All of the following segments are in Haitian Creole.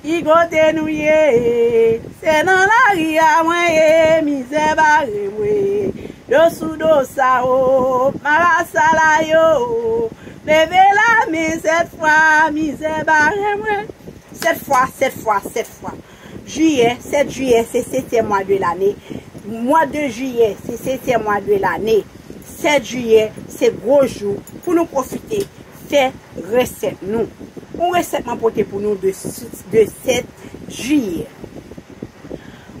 Ki kote nou ye e Se nan lari a mwen ye Mizè bare m we Do sou do sa o Marasa la yo o Leve la men sèt fwa Mizè bare m we Sèt fwa, sèt fwa, sèt fwa Jiyè, 7 jiyè Se setyèm mwa de lane Mwa de jiyè Se setyèm mwa de lane 7 jiyè Se gwo jou Pou nou pwofite Fè resèt nou. Yon resèt mwen pote pou nou de 7 jiye.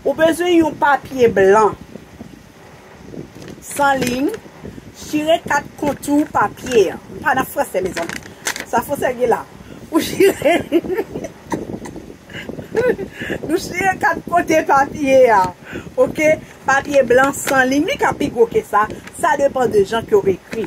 Ou bezwen yon papye blan. San liy. Chire 4 kontou papye an. M pa nan franse mezanmi. Sa franse ki gen la. Ou chire. Nou chire 4 kote papye an. Ok. Papye blan san liy. Li ka pi gwo ke sa. Sa depan de jan ke ou ekri.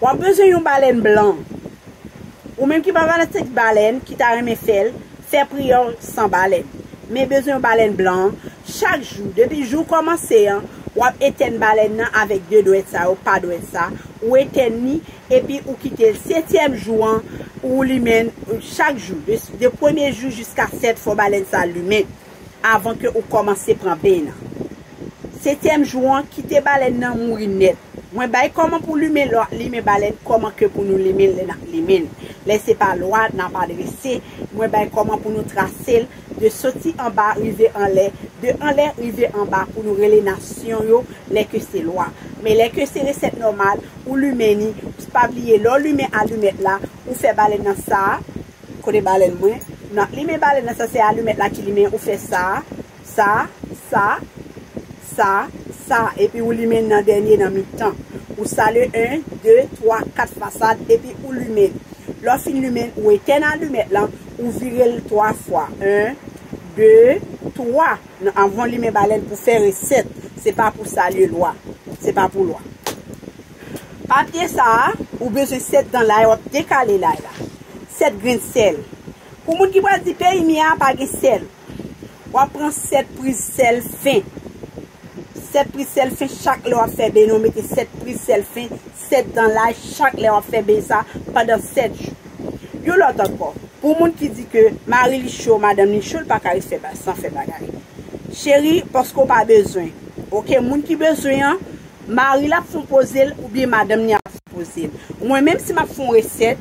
Wap bezwen yon balèn blan. Ou menm ki pa fanatik balèn, ki ta renmen fèl, fè priyè w san balèn. Men bezwen yon balèn blan an, chak jou, depi jou w kòmanse an, wap etèn balèn nan avèk 2 dwèt sa yo, pa dwèt sa, ou etèn li, epi ou kite l, setyèm jou an, ou limen l, chak jou, de premye jou jiska 7 fò balèn sa limen. avan ke ou komanse pran beny lan. Setyèm jou an, kite balèn nan mouri nèt. Mwen bay koman pou limen lò ap limen balèn koman ke pou nou limenl lè nap limenl. Lè se pa lwa nap adrese, mwen bay koman pou nou trasel de soti anba rive anlè, de anlè rive anba pou nou rele nasyon yo lè ke se lwa. Men lè ke se resèt nòmal, ou limen ni, pspa bliye lè w limen alumèt la, ou fè balèn nan sa, Kote balèn mwen? Nan limen balèn nan sa se alumèt la ki limen ou fè sa, sa, sa, sa, sa epi ou limen nan dènye nan mitan. Ou sale 1, 2, 3, 4 fasad epi ou limen l. Lè w fin limen l ou etèn alumèt lan, ou vire l 3 fwa 1, 2, 3 nan avan w limen balèn pou fè resèt se pa pou salye lwa. Se pa pou lwa. Papye sa a, ou bezwen 7 dan lay wap dekale lay la, 7 grenn sèl. Pou moun ki pral di peyi mia a pa gen sèl, wap pran 7 priz sèl fen. 7 priz sèl fen chak lè wap fè beny ou mete 7 priz sèl fen, 7 dan lay chak lè wap fè beny sa pandan 7 jou. Yon lòt ankò, pou moun ki di ke mari li cho, madanm li cho li paka ret san fè bagay. Cheri paske ou pa bezwen. Ok moun ki bezwen an Mari l ap fon poze l oubyen madanm li ap fon poze l. Mwen menm si m ap fon resèt,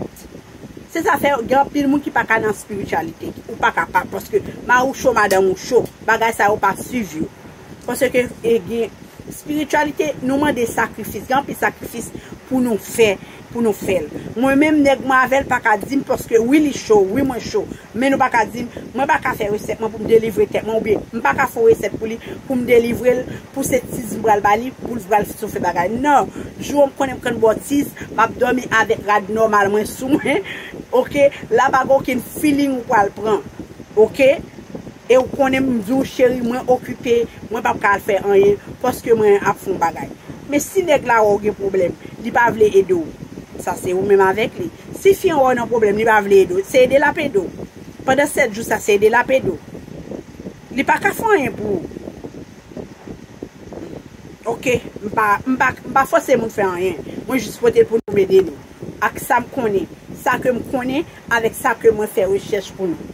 se sa fè gen anpil moun ki pa ka nan spirityalite. Ou pa kapab paske mari w cho, madanm ou cho. Bagay sa yo pa swiv yo. Paske gen, spirityalite nou mande sakrifis. Gen anpil sakrifis pou nou fè. pou nou fèl mwen menm nèg mwen avèl paka dim paske wi li cho wi mwen cho men nou paka dim mwen paka fè resèt mwen poum delivre tèt mwen oubyen mpaka fon resèt pou li poum delivrel pou se tiz mpral bali poul vral sou fè bagay nan jou an konnen mprann bò tiz map dòmi avèk rad nòmal mwen sou mwen ok la pa gen okenn feeling ou pral pran ok E ou konnen m di w cheri mwen okipe, mwen pap ka al fè anyen paske mwen ap fon bagay. Men si nèg la wè w gen pwoblèm, li pa vle ede w. Sa se ou menm avèk li. Si fi an wè w nan pwoblèm li pa vle ede w, se ede l ap ede w. Pandan 7 jou sa se ede l ap ede w. Li pa ka fon anyen pou ou. Ok, m pa, m pa, m pa fòse moun fè anyen. Mwen jis pote l pou nou m ede nou. Ak sa m konnen. Sa ke m konnen avèk sa ke mwen fè rechèch pou nou.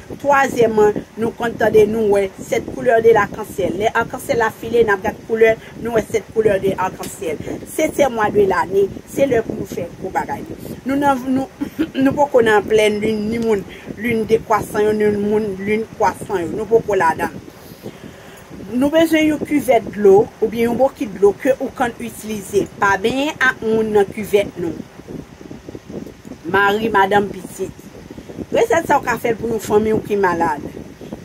Twazyèman, nou konn tande, nou wè, sept couleurs de l'arc-en-ciel. Lè arc-en-ciel la file, n ap gad koulè, nou wè sept couleurs de arc-en-ciel. Setyèm mwa de lane, se lè pou nou fè gwo bagay yo. Nou nan, nou, nou poko nan plèn lin ni moun lin dekwasan yo ni moun lin kwasan yo. Nou poko ladan l. Nou bezwen yon kivèt dlo oubyen yon bokit dlo ke ou kann itilize. Pa benyen ak moun nan kivèt nou. Mari, madanm, pitit. Resèt sa ou ka fèl pou yon fanmi ou ki malad.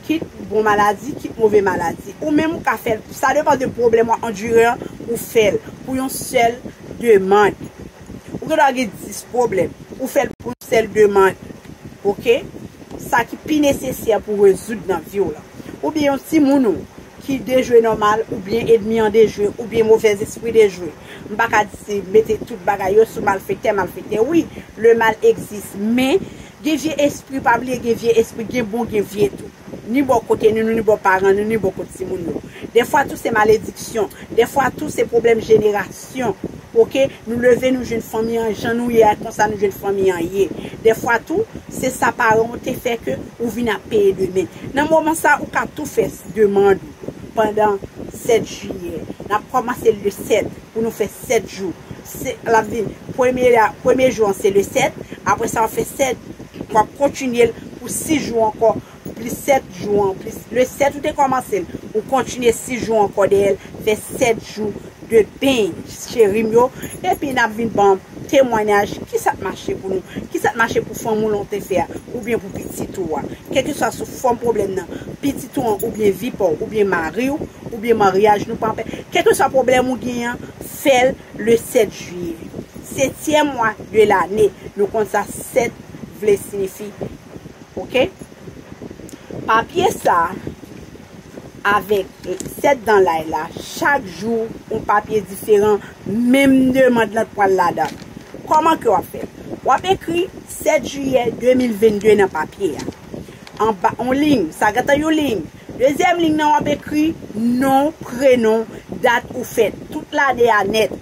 Kit bon maladi, kit move maladi. Ou menm ou ka fèl, sa depan de pwoblèm wap andure an, ou fèl pou yon sèl demand. Ou gen dwa gen 10 pwoblèm, ou fèl pou yon sèl demand. Ok? Sa ki pi nesesè pou rezoud nan viw lan. oubyen yon timoun ou ki dejwe nòmal oubyen edmi an dejwe oubyen movèzespri dejwe m pa ka di se mete tout bagay yo sou malfektè malfektè wi le mal egzis men gen vye espri pa bliye gen vye espri gen bon gen vye tou ni bò kote nou ni bò paran nou ni bò kot timoun nou dèfwa tou se malediksyon dèfwa tou se pwoblèm jenerasyon. Aksyon Ok nou leve nou jwenn fanmi an jan nou ye a konsa nou jwenn fanmi an ye dèfwa tou se sa paran w te fè ke ou vin ap peye demen nan moman sa ou ka tou fè demand ou pandan 7 jiyè n ap kòmanse l le 7 pou nou fè 7 jou se l ap vin premye a premye jou an se le 7 apre sa w ap fè 7 w ap kontinye l pou 6 jou ankò. pou plis 7 jou an plis le 7 ou te kòmansel ou kontinye 6 jou ankò dèyèl fè 7 jou de beny cherim yo epi nap vin banm temwanyaj kisat mache pou nou kisat mache pou fanm ou lan ou te fè a oubyen pou pitit ou a kèlkeswa sou fòm pwoblèm nan pitit ou an oubyen vi paw oubyen mariw oubyen maryaj nou pa pè kèlkeswa pwoblèm ou gen an fèl le 7 juillet setyèm mwa de lane nou konn sa 7 vle sinifi Ok papye sa avek 7 dan lay la chak jou yon papye diferan menm demand lan t pwal ladan koman ke wap fè wap ekri 7 jiyè 2022 nan papye a anba yon liy sa gentan yon liy dezyèm liy nan wap ekri non prenon dat ou fèt tout lane a nèt.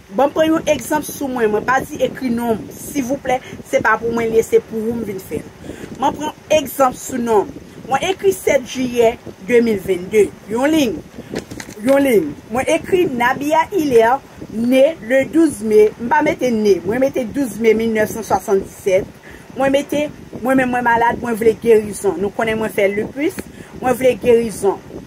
Banm pran yon egzanp sou mwen, mwen pa di ekri nonm sivouplè, se pa pou mwen li ye se pou ou m vin fè l. M'en pran egzanp sou nonm. Mwen ekri 7 jiyè 2022, yon lign, yon lign. Mwen ekri Nabia Hilaire ne le 12 me, m pa mete ne, mwen mete 12 me 1977, mwen mete mwen menm mwen malad mwen vle gerizon, nou konnen mwen fè lupus, mwen vle gerizon.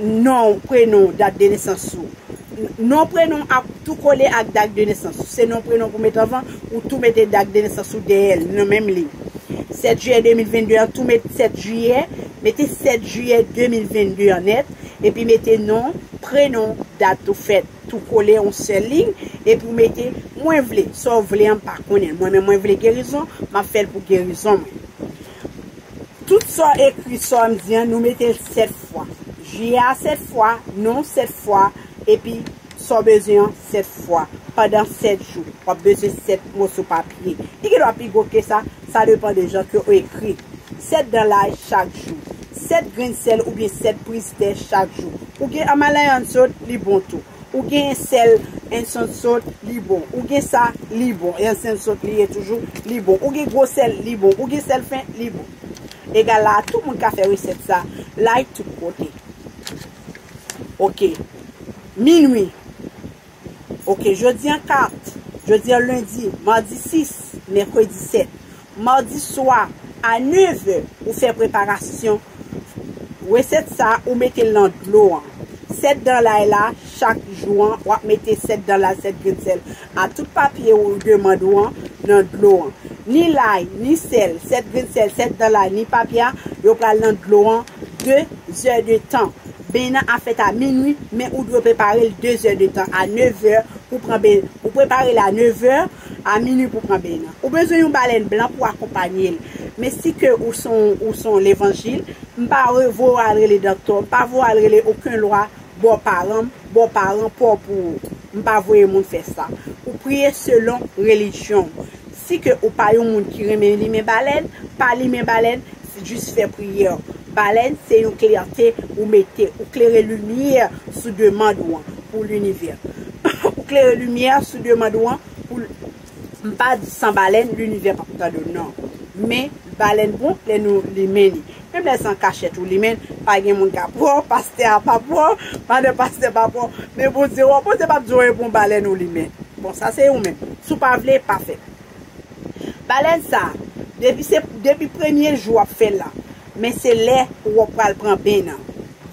Non w, prenon w, dat de nesans ou. Non prenon w ap tou kole ak dat de nesans ou. Se non prenon pou met anvan, ou tou mete dat de nesans ou dèyè l, nan menm liy. 7 jiyè 2022 an, tou met 7 jiyè, mete 7 jiyè 2022 an nèt, epi mete non, prenon, dat ou fèt, tou kole yon sèl liy, epi w mete, mwen vle, sa w vle an m pa konnen l mwen men mwen vle gerizon, m ap fè l pou gerizon mwen. Tout sa w ekri sa m di an nou mete l 7 fwa. Je a 7 fwa, non w 7 fwa epi sa w bezwen an 7 fwa pandan 7 jou. W ap bezwen 7 moso papye. Li gen dwa pi gwo ke sa, sa depan de jan ke w ekri. 7 dan lay chak jou. 7 grenn sèl oubyen 7 priz te chak jou. Ou gen an malayan sot, li bon tou. Ou gen sel en son sot li bon ou gen sa li bon en son sot li ye toujou li bon ou gen gwo sel li bon ou gen sel fen li bon egal la tout moun ka fè resèt sa like tout kote ok minwi ok jodi an 4 jodi an lundi mardi 6 mercredi 7 Mardi swa a 9 è ou fè preparasyon resèt sa ou metel nan dlo an 7 dan lay la chak jou an wap mete 7 dan lay 7 grenn sèl a tout papye ou demand ou an nan dlo an ni lay ni sèl 7 grenn sèl 7 dan lay ni papye a yo pral nan dlo an 2 zè de tan beny nan ap fèt a minwi men ou dwe preparel 2 zè de tan a 9 è pou pran beny ou preparel a 9 è A minwi pou pran beny nan. Ou bezwen yon balèn blan pou akonpanye l. Men si ke ou son ou son levanjil, m pa re voye w al rele doktè, m pa voye w al rele oken lwa bò paran m, bò paran pa w pou ou. M pa voye moun fè sa. Ou priye selon relijyon w. Si ke ou pa yon moun ki renmen limen balèn, pa limen balèn, Jis fè priyè. Balèn se yon klète ou mete. Ou klere limyè sou demand ou an pou linivè. Ou klere limyè sou demand ou an pou l. M pa di san balèn linivè p ap tande w nan. Men, balèn bon lè nou limen li. Menm lè se an kachèt ou limen l, pa gen moun k ap wè w, pastè a p ap wè w, madan pastè p ap wè w, men Bondye wè w. Bondye p ap di w e bon balèn ou limen. Bon, sa se ou menm. Si w pa vle, pa fè. Balèz sa depi se depi premye jou wap fèl la men se lè ou wap pral pran ben nan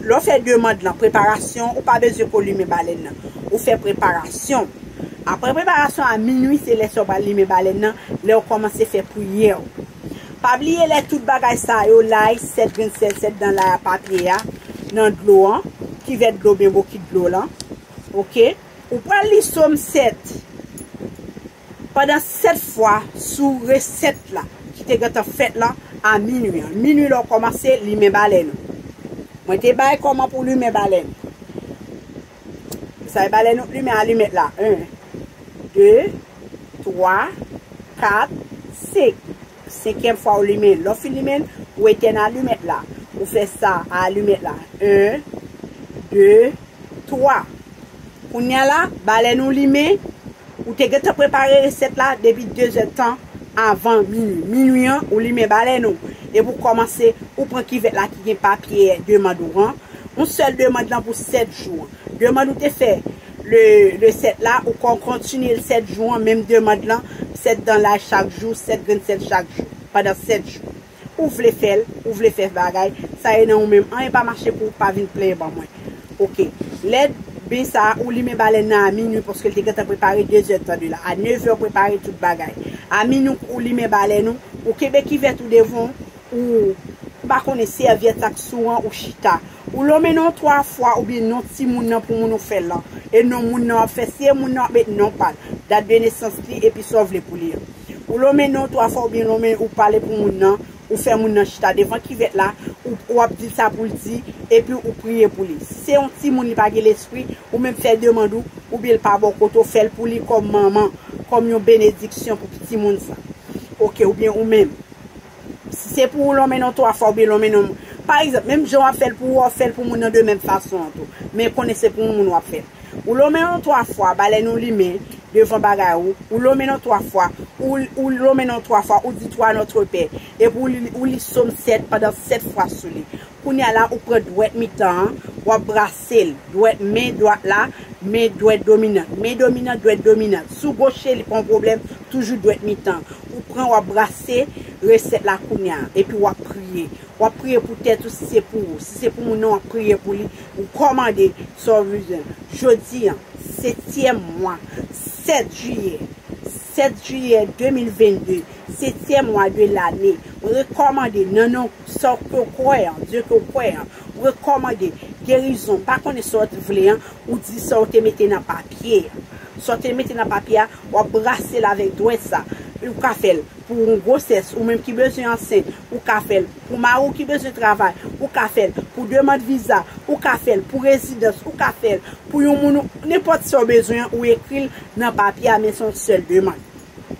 lè w fè demand lan preparasyon ou pa bezwen pou w limen balèn nan ou fè preparasyon aprè preparasyon a minwi se lè sa w pral limen balèn nan lè w kòmanse fè priyè w pa bliye lè tout bagay sa yo lay 7 grenn sèl 7 dan lay a papye a nan dlo an kivèt dlo w byen bokit dlo w lan ok ou pral li som 7. Pandan 7 fwa sou resèt la ki te gentan fèt la a minwi an. Minwi lè w kòmanse limen balèn ou. Mwen te bay kòman pou limen balèn. Sa e balèn ou limen alimèt la 1 2 3 4 5 Senkyèm fwa ou limen. Lè w fin limen l, ou etèn alimèt la. Ou fè sa a alimèt la. 1, 2, 3. Kounye a la, balèn ou limen, ou te gentan prepare resèt la depi 2 zè tan avan minui. Minui an, ou limen balèn ou. Epi ou kòmanse, ou pran kivèt la ki gen papye demand ou an. Yon sèl demand lan pou 7 jou. Demand ou te fè Le 7 la, ou ka kontinye l 7 jou an, menm demand lan, 7 dan laj chak jou, 7 grenn sèl chak jou, pandan 7 jou. Ou vle fè l, ou vle fè bagay, sa ye nan ou menm. Anyen pa mache pou ou, pa vin plenyen ban mwen. Ok. Lè beny sa a, ou limen balèn nan a minwi, paske l te gentan prepare dezè tan de la. A nevè ou prepare tout bagay. A minwi ou limen balèn ou, ou kenbe kivèt ou devan ou, Ou pa konnen sèvyèt ak sou an ou chita. Ou lonmen non 3 fwa oubyen non timoun nan pou moun ou fè lan. E non moun nan wap fè. Si e moun nan wap met non pal, dat de nesans li epi sa w vle pou li an. Ou lonmen non 3 fwa oubyen lonmen ou pale pou moun nan, ou fè moun nan chita devan kivèt la, ou ou ap dil sa poul di, epi ou priye pou li. Si se yon timoun li pa gen lespri, ou menm fè demand ou, oubyen l pa bò kote w fèl pou li kòm manman, kòm yon benediksyon pou piti moun sa. Ok oubyen ou menm. Si se pou ou lonmen non twa fwa oubyen lonmen non pa egzanp, menm jan w ap fè l pou ou a, ou fè l pou moun nan de menm fason an tou. Men konnen se pou yon moun w ap fè l. Ou lonmen non twa fwa ba lè nou limen devan bagay ou. Ou lonmen non twa fwa. Ou lonmen non twa fwa, ou di twa Nòtrepè. Epi ou li Som 7 pandan 7 fwa sou li. Kounya la ou pran dwèt mitan an, wap brase l, dwèt men dwat la, men dwèt dominant, men dominant, dwèt dominant. Si w goche li pa yon pwoblèm, toujou dwèt mitan. Ou pran wap brase resèt la kounya. Epi wap priye. Wap priye pou tèt ou si se pou ou. Si se pou moun nan wap priye pou li. Ou kòmande sa w bezwen. Jodi an, setyèm mwa, 7 jiyè, 7 jiyè 2022, setyèm mwa de lane, mwen rekòmande nan non. Sa w ke w kwè an, Dye ke w kwè an, rekòmande gerizon. M pa konnen sa w te vle an, ou di sa w te mete nan papye a. Sa w te mete nan papye a, w ap brase l avèk dwèt sa. Ou ka fè l pou yon gwosès, ou menm ki bezwen ansent. Ou ka fè l pou mari w ki bezwen travay. Ou ka fè l pou demand viza. Ou ka fè l pou rezidans. Ou ka fè l pou yon moun ou. Nenpòt sa w bezwen an, ou ekri l nan papye a, men se yon sèl demand.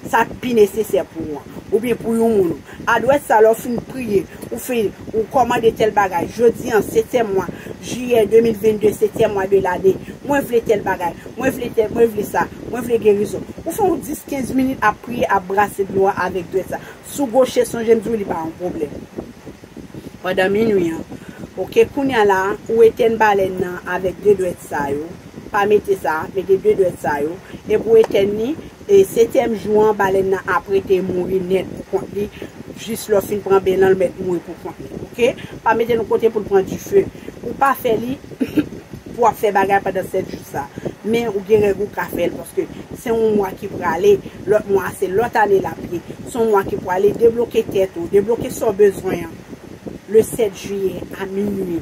sa k pi nesesè pou ou an, oubyen pou yon moun ou. Adwèt sa lè w fin priye, ou fin, ou kòmande tèl bagay, Jodi an, setyèm mwa, Jiyè 2022, setyèm mwa de lane, mwen vle tèl bagay, mwen vle tèl, mwen vle sa, mwen vle gerizon. Ou fè yon 10, 15 minit ap priye, ap brase dlo a avèk dwèt sa. Si w goche, sonje m di w li pa yon pwoblèm. Pandan minwi an. Ok, kounye a la, ou etèn balèn nan avèk de dwèt sa yo. Pa mete sa, mete 2 dwèt sa yo, e pou etèn ni, e setyèm jou an, balèn nan ap rete mouri nèt pou kont li, jis lè w fin pran ben lan l mèt mouri pou kont li. Ok? Pa mete l yon kote pou l pran dife. Ou pa fè li pou w ap fè bagay pandan 7 jou sa. Men ou gen règ ou ka fè l, paske se yon mwa ki prale, lòt mwa a se lòt ane l ap ye. Se yon mwa ki prale, debloke tèt ou, debloke sa w bezwen an, le 7 jiyè a minui.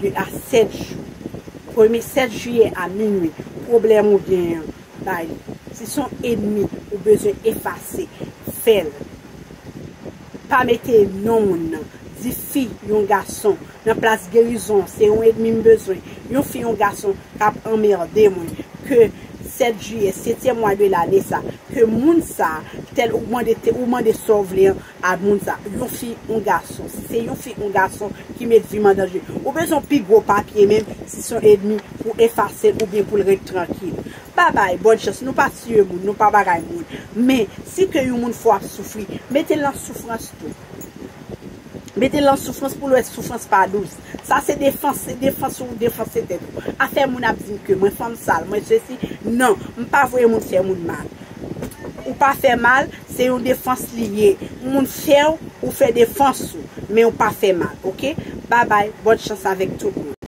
2 a 7 jou. Premye 7 jiyè a minwi, pwoblèm ou gen an, bay li. Si son enmi ou bezwen efase, fè l. Pa mete non moun nan. Di fi, yon gason, nan plas gerizon, se yon enmi m bezwen, yon fi, yon gason k ap anmerde mwen, ke 7 jiyè, setyèm mwa de lane sa, ke moun sa, tèl ou mande, ou mande sa w vle an, Ad moun sa. Yon fi ou gason. Si se yon fi ou gason ki met vi m an danje. Ou bezwen yon pi gwo papye menm si se yon edmi pou efase l oubyen pou l ret trankil. Bye bye, bòn chans. Nou pa tiye moun, nou pa bagay moun. Men, si ke yon moun fè w ap soufri, mete l nan soufrans tou. Mete l nan soufrans pou l wè soufrans pa dous. Sa se defans, se defans ou defanse tèt ou. Afè moun ap di m ke mwen fanm sal, mwen sesi. Non, m pa voye moun fè moun mal. Ou pa fè mal. Se yon defans li ye. Yon moun fèw ou fè defans ou. Menw pa fè mal ok. Babay bonne chance avek tout moun.